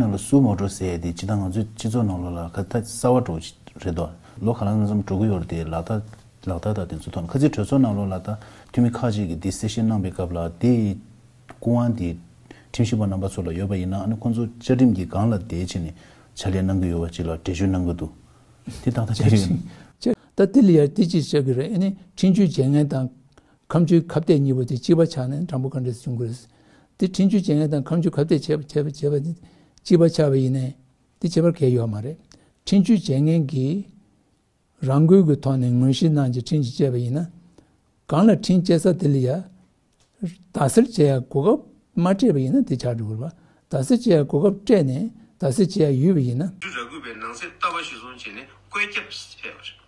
ནང་ལ་སུའོ་མོ་འགྲོ་ཟེར་ཡས་དེ་ཇི་ལྟར་ང་ཚོའི་སྤྱི་ཚོགས་ནང་ལོ་ལ་ཁ་ཐ་གསར་བ་འགྲོ་རེད་དོ། ལོ་ག་རང་ཙམ་འགྲོ་གི་ཡོད་རེད་དེ་ལག་བསྟར་ལག་བསྟར་དང་དེ་ཚོ་ཐོག་ཁ་ཚིག་གྲོས་ཚོགས་ནང་ལོ་ལ་ད་འཐུས་མི་ཁག་ཅིག་གིས་དེ་གསལ་བཤད་གནང་པའི་སྐབས་ལ་དེ་ཡི་སྐུ་དབང་དེ་ཁྲིམས་ཞིབ་པ་རྣམ་པ་ཚོ་ལ་ཡོད་པ་ཡིན་ན་ཨ་ནི་ཁོང་ཚོ་བཅའ་ཁྲིམས་ཀྱི་སྒང་ལ་དེའི་ཆེད་ནས་ཕྱག་ལས་གནང་གི་ཡོད་པ་ཅིག་ལ་འགྲེལ་བརྗོད་གནང་གི་འདུག་དེ་ད་ལྟ་ཆགས་ཀྱི་ཡོད། ད་དེ་ལ་ཡར་དེ་ཅིག་ཆགས་ཀྱི་རེད་ཨ་ནི་ཁྲིམས་གཅོད་བྱེད་མཁན་དང། ཁམ་ཆུའི་ཁབ་གཏད་གཉིས་པོ་དེ་གཅིག་པ་ཆགས་ནས་འགྲམ་པོ་གང་འདྲེས་སུ་བྱུང་དགོས། དེ་འཕྲིན་ཆུའི་བྱེ་ངན་དང་ཁམ་ཆུ་ཁབ་གཏད་བྱེད་པ་དེ་གཅིག་པ་ཆགས་པས་ཡིན། དེ་བྱེད་པར་གལ་ཡོད་པ་མ་རེད། འཕྲིན་ཆུའི་བྱེ་ངན་གྱིས་རང་འགུལ་གྱི་ཐོག་ནས་ངོས་གཞི་ནང་གི་འཕྲིན་གྱིས་བཅད་པ་ཡིན། གང་ལ་འཕྲིན་བཅད་ས་དེ་ལ་ཡ་ད་སེར་བྱེ་ཡ་གོ་སྐབས་མ་སྤྲད་པ་ཡིན་ན་དེ་ཆགས་འགྲོ་གི། ད་སེར་བྱེ་ཡ་གོ་སྐབས་སྤྲད་ནས་ད་སེར་བྱེ་ཡ་ཡུས་པ་ཡིན། ཆུ་ར་གུས་པའི་ནང་གསེས་ལྟ་བ་གཞིར་བཟུང་བྱས་ནས་བཀོད་ཁྱབ་བྱས་པ་རེད།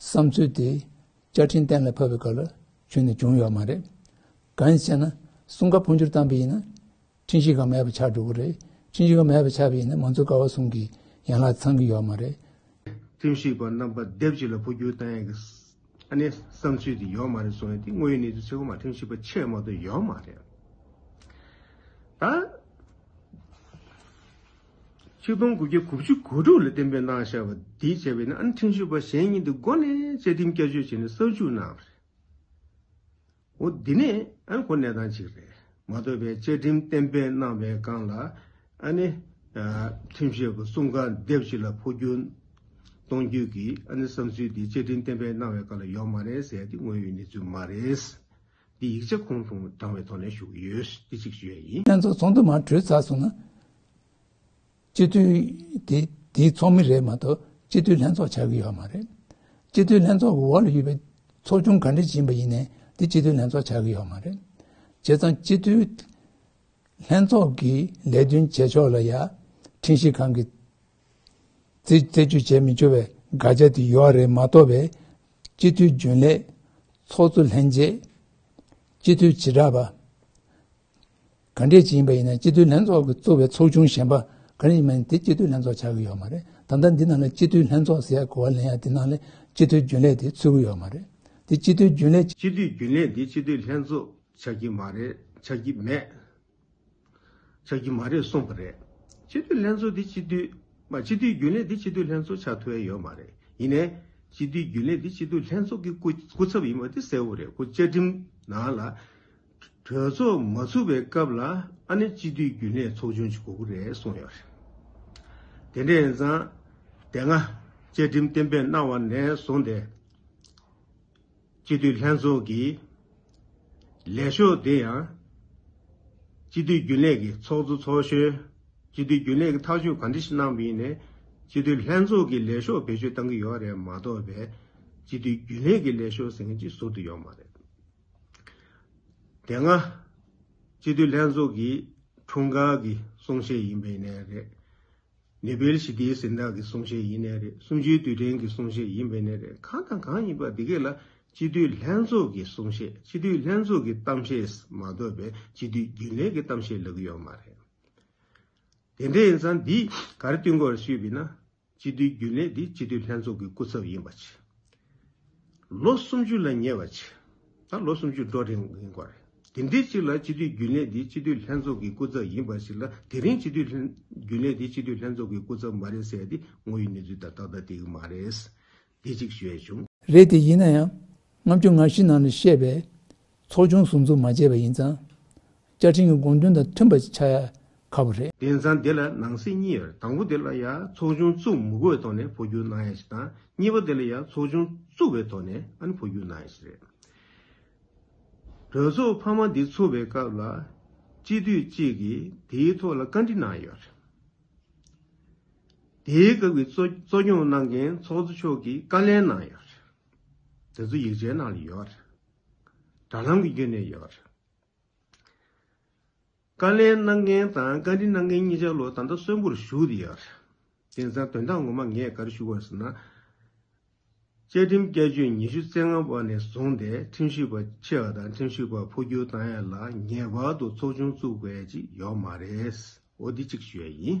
བསམ་ཚུལ་དེ་བཅའ་ཁྲིམས་གཏན་ལ་ཕབ་པའི་སྐབས་ལ་ཆུད་ནས་བྱུང་ཡོད་མ་རེད། གང་ཞེ་ན། སྲུང་སྐར་འཕོ་འགྱུར་བཏང་པས་ཡིན་ན། འཕྲིན་བཞི་ཁང་མེད་པར་ཆགས་འགྲོ་གི་རེད། འཕྲིན་བཞི་ཁང་མེད་པར་ཆགས་པས་ཡིན་ན་མང་གཙོའི་ཀ་བ་གསུམ་གྱི་ཡན་ལག་ཚང་གི་ཡོད་མ་རེད། འཕྲིན་བཞི་པ་རྣམ་པ་སྡེབ་གཅིག་ལ་འཕོ་འགྱུར་བཏང་ཡག་གི། ཨ་ནི་བསམ་ཚུལ་དེ་ཡོད་མ་རེད་གསུང་ཡ་དེ་དངོས་ཡོད་གནས་ཚུལ་ཚེ་གོང་མ་འཕྲིན་བཞི་པ་ཆེས་མང་དུ་ཡོད་མ་རེད། ད། ཆིག་སྟོང་དགུ་བརྒྱ་དགུ་བཅུ་གོ་དྲུག་ལ་གཏན་འབེབས་གནང་བཞག་པ་འདི་བྱས་པས་ན་ཨན་ཁྲིན་ཞུས་པ་གཞན་གཉིས་འདི་མགོ་ནས་བཅའ་ཁྲིམས་བསྐྱར་བཅོས་བྱས་ནས་གསར་འཇུག་གནང་བ་རེད། འོ་འདི་ནས་ཨན་གོ་གནས་སྟངས་གཅིག་རེད་མ་གཏོགས་པའི་བཅའ་ཁྲིམས་གཏན་འབེབས་གནང་བའི་སྒང་ལ་ཨ་ནི་ཁྲིམས་ཞིབ་པ་གསུམ་ག་སྡེབ་གཅིག་ལ་འཕོ་འགྱུར་གཏོང་རྒྱུ་གི་ཨ་ནི་བསམ་ཚུལ་འདི་བཅའ་ཁྲིམས་གཏན་འབེབས་གནང་བའི་སྒང་ལ་ཡོག་མ་རེད་ཟེར་ཡ་འདི་དངོས་ཡོད་གནས་ཚུལ་མ་རེད། འདི་ཡིག་ཆ་ཁོང་ཁྲོ་བགྲང་བའི་ཐོག་ནས་ཞུ་གི་ཡོད་འདི་གཅིག་ཞུ་ཡ་ཡིན། ལྷན་ཚོགས་ཚོགས་འདུ་མ་གྲོལ་ཚར་སོང་ན། སྤྱི་འཐུས་དེ་དེའི་ཚོགས་མི་རེད་མ་གཏོགས་སྤྱི་འཐུས་ལྷན་ཚོགས་ཆགས་ཀྱི་ཡོད་མ་རེད། སྤྱི་འཐུས་ལྷན་ཚོགས་ཀྱི་འོག་ལ་ཡོད་པའི་ཚོགས་ཆུང་ག་འདྲ་ཡིན་པ་ཡིན་ནའི་དེ་སྤྱི་འཐུས་ལྷན་ཚོགས་ཆགས་ཀྱི་ཡོད་མ་རེད། བྱས་ཙང་སྤྱི་འཐུས་ལྷན་ཚོགས་ཀྱི་ལས་དོན་བྱེད་ཕྱོགས་ལ་ཡ། ཁྲིན་ཤིས་ཁང་གི་རྩད་གཅོད་བྱས་མི་ཆོག་པའི་དགག་བྱ་དེ་ཡོད་རེད་མ་གཏོགས་པའི། སྤྱི་འཐུས་རྒྱུན་ལས། ཚོགས་གཙོ་ལྷན་རྒྱས། སྤྱི་འཐུས་བྱེ་བྲག་པ། ག་འདྲས་ཅིག་ཡིན་པ་ཡིན་ན་སྤྱི་འཐུས་ལྷན་ཚོགས་ཀྱི་གཙོ་བའི་ཚོགས་ཆུང་གཞན་པ་ག་རེ་ཡིན་པ་ཡིན་དེ་སྤྱི་འཐུས་ལྷན་ཚོགས་ཆགས་ཀྱི་ཡོད་མ་རེད་ད་ལྟ་འདི་ནང་ལ་སྤྱི་འཐུས་ལྷན་ཚོགས་ཟེར་ཡ་གོ་བ་ལེན་ཡ་དེ་ནང་ལས་སྤྱི་འཐུས་རྒྱུན་ལས་དེ་ཚུད་ཀྱི་ཡོད་མ་རེད་དེ་སྤྱི་འཐུས་རྒྱུན་ལས་སྤྱི་འཐུས་རྒྱུན་ལས་དེ་སྤྱི་འཐུས་ལྷན་ཚོགས་ཆགས་ཀྱི་མ་རེད་ཆགས་ཀྱི་མེད། ཆགས་ཀྱི་མ་རེད་གསུངས་པ་རེད། སྤྱི་འཐུས་ལྷན་ཚོགས་འདི་སྤྱི་འཐུས། མ་སྤྱི་འཐུས་རྒྱུན་ལས་འདི་སྤྱི་འཐུས་ལྷན་ཚོགས་ཆགས་ཐུ་ཨེ་ཡོད་མ་རེད། ཡིན་ནས། སྤྱི་འཐུས་རྒྱུན་ལས་འདི་སྤྱི་འཐུས་ལྷན་ཚོགས་ཀྱི་སྐུ་སྐུ་ཚབ་ཡིན་པ་འདི་གསལ་བོ་རེད་སྐུ་བཅའ་ཁྲིམས་ནང་ལ། གྲོས་ཚོགས་མ་ཚུགས་པའི་སྐབས་ལ་ཨ་ནི་སྤྱི་འཐུས་རྒྱུན་ལས་ཚོགས་ཆུང་ཞིག་དགོས་ཀྱི་རེད་གསུངས་ཡོད་རེད། དེ་འདྲ་ཡིན་ཙང། དེ་སྔ། བཅའ་ཁྲིམས་གཏན་འབེབས་གནང་བ་ནས་བཟུང་སྟེ། སྤྱི་འཐུས་ལྷན་ཚོགས་ཀྱི་ལས་ཤོག་དེ་ཡང་སྤྱི་འཐུས་རྒྱུན་ལས་ཀྱི་ཚོགས་གཙོ་ཚོགས་གཞོན་སྤྱི་འཐུས་རྒྱུན་ལས་ཀྱི་ཐག་གཅོད་ག་འདྲི་ཞིག་གནང་བའི་ནས་སྤྱི་འཐུས་ལྷན་ཚོགས་ཀྱི་ལས་ཤོག་བེད་སྤྱོད་གཏང་གི་ཡོད་རེད་མ་གཏོགས་པའི་སྤྱི་འཐུས་རྒྱུན་ལས་ཀྱི་ལས་ཤོག་ཟེར་མཁན་གཅིག་ཟུར་དུ་ཡོད་མ་རེད། དེ་སྔ་སྤྱི་འཐུས་ལྷན་ཚོགས་ཀྱི་འཁྲུངས་སྐར་གྱི་གསུང་བཤད་ཡིན་པའི་ནས་རེད། ནེ་པལ་ཞི་བདེའི་གཟེངས་རྟགས་ཀྱི་གསུང་བཤད་ཡིན་ནས་རེད་གསུམ་བཅུའི་དུས་དྲན་གྱི་གསུང་བཤད་ཡིན་པས་ནས་རེད་གང་དང་གང་ཡིན་པ་འདི་གས་ལ་སྤྱི་འཐུས་ལྷན་ཚོགས་ཀྱི་གསུང་བཤད་སྤྱི་འཐུས་ལྷན་ཚོགས་ཀྱི་གཏམ་བཤད་མ་གཏོགས་པའི་སྤྱི་འཐུས་རྒྱུན་ལས་ཀྱི་གཏམ་བཤད་ལབ་གི་ཡོད་མ་རེད། དེ་འདྲ་ཡིན་ཙང་འདིས་གར་བསྟུན་སྐོར་ཞུས་པས་ན་སྤྱི་འཐུས་རྒྱུན་ལས་འདི་སྤྱི་འཐུས་ལྷན་ཚོགས་ཀྱི་སྐུ་ཚབ་ཡིན་པ་ཆེ། ལོ་སུམ་ཅུ་ལ་ཉེ་བ་ཆེ། ད་ལོ་སུམ་ཅུ་འགྲོ་རིང་ཡིན་སྐོར་རེད། དེ་འདྲའི་ཅིག་ལ་སྤྱི་འཐུས་རྒྱུན་ལས་འདི་སྤྱི་འཐུས་ལྷན་ཚོགས་ཀྱི་སྐུ་ཚབ་ཡིན་པ་ཞིག་ལ་དེ་རིང་སྤྱི་འཐུས་རྒྱུན་ལས་འདི་སྤྱི་འཐུས་ལྷན་ཚོགས་ཀྱི་སྐུ་ཚབ་མ་རེད་ཟེར་དེ་ངོ་ཡི་གནས་ཚུལ་དང་ཏག་ཏག་དེ་གི་མ་རེད། དེ་གཅིག་བཤད་བྱུང། རེད་དེ་ཡིན་ན་ཡང་ང་ཚོས་ང་ཤི་ནང་ནས་བཤད་པའི་ཚོགས་ཆུང་ཟུར་འཛུགས་མ་བྱས་པ་ཡིན་ཙང། བཅའ་ཁྲིམས་ཀྱི་དགོངས་དོན་དང་མཐུན་པ་ཆགས་ཡག་ཁ་བོ་རེད། དེང་སང་དེ་ལ་ནང་སྲིད་གཉིས་ཡོད་རེད་དང་པོ་དེ་ལ་ཡང་ཚོགས་ཆུང་བཙུགས་མུ་གོའི་ཐོག་ནས་འཕོ་འགྱུར་གནང་ཡག་ཞིག་དང་གཉིས་པ་དེ་ལ་ཡང་ཚོགས་ཆུང་བཙུགས་པའི་ཐོག་ནས་ཨཱ་ནི་འཕོ་འགྱུར་གནང་ཡག་ཞིག་རེད། གྲོས་ཚོགས་འཕར་མ་འདི་ཚུགས་པའི་སྐབས་ལ་སྤྱི་འཐུས་གཅིག་གིས་དེའི་ཐོག་ལ་བཀའ་འདྲི་གནང་ཡོད་རེད། དེའི་སྐབས་ཀྱི་གཙོ་སྐྱོང་གནང་མཁན་ཚོགས་གཙོ་མཆོག་གིས་བཀའ་ལན་གནང་ཡོད་རེད། དེ་ཚོ་ཡིག་ཆའི་ནང་ལ་ཡོད་རེད། དྲ་ལམ་གྱི་རྒྱུད་ནས་ཡོད་པ་རེད། བཀའ་ལན་གནང་མཁན་དང་བཀའ་འདྲི་གནང་མཁན་གཉིས་ཆ་ལོ་ད་ལྟ་གསོན་པོར་བཞུགས་ཡོད་རེད། དེ་མཚམས་དོན་དག་ངོ་མ་ངས་ག་རེ་ཞུ་དགོས་ཟེར་ན། བཅའ་ཁྲིམས་བསྐྱར་བཅོས་ཉི་ཤུ་རྩེ་ལྔ་པ་ནས་བཟུང་སྟེ་ཁྲིམས་ཞིབ་པ་ཆེ་བ་དང་ཁྲིམས་ཞིབ་པ་འཕོ་འགྱུར་བཏང་ཡས་ལ་ངེས་པར་དུ་ཚོགས་ཆུང་བཙུགས་དགོས་ཅིག་ཡོད་མ་རེད། འོ་འདི་གཅིག་ཞུ་ཡས་ཡིན།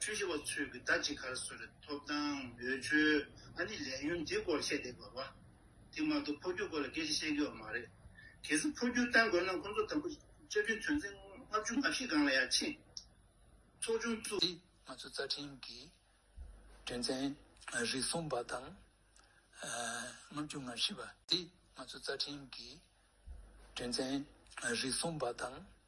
ཆོས་ཞུ་བ་ཚོས་ཀྱི་ཟླ་གཅིག་ཁར་བཟོས་པའི་ཐོབ་ཐང་འོས་ཆོས་ཨ་ནི་ལས་ཡུན་འདི་སྐོར་བཤད་བསྡད་དགོས་པ། དེ་མ་གཏོགས་འཕོ་འགྱུར་སྐོར་ལ་སྐད་ཆ་བཤད་དགོས་པ་མ་རེད། གལ་སྲིད་འཕོ་འགྱུར་བཏང་དགོས་ན་ཁོང་ཚོ་དང་པོ་བཅའ་ཁྲིམས་དོན་ཚན་ལྔ་བཅུ་ང་བཞི་སྒང་ལ་ཡར་ཕྱིན་ཚོགས་ཆུང་བཙུགས། འདི་ང་ཚོ་རྩ་ཁྲིམས་ཀྱི་དོན་ཚན་རིགས་གསུམ་པ་དང་ལྔ་བཅུ་ང་བཞི་པ། འདི་ང་ཚོ་རྩ་ཁྲིམས་ཀྱི་དོན་ཚན་རིགས་གསུམ་པ་དང་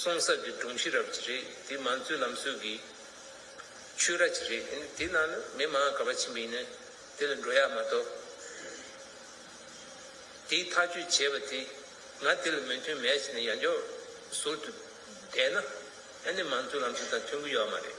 སོང་ཟབ་ཀྱི་སྒྲུང་ཤེས་རབ་ཀྱི་རིགས་དེ་མང་གཙོའི་ལམ་སྲོལ་གྱི་ཆོས་ར་ཅིག་རེད། དེའི་ནང་ནས་མི་མང་ག་པར་ཕྱིན་པ་ཡིན་ན་དེ་ལ་འགྲོ་ཡག་མ་གཏོགས། དེའི་ཐག་གཅོད་བྱས་པ་དེ་ང་དེ་ལ་མོས་མཐུན་མེད་ཟེར་ནས་ཡར་འཇོག་ཟུར་དུ་བསྡད་ན་ཨ་ནི་མང་གཙོའི་ལམ་སྲོལ་དང་མཐུན་གྱི་ཡོད་མ་རེད།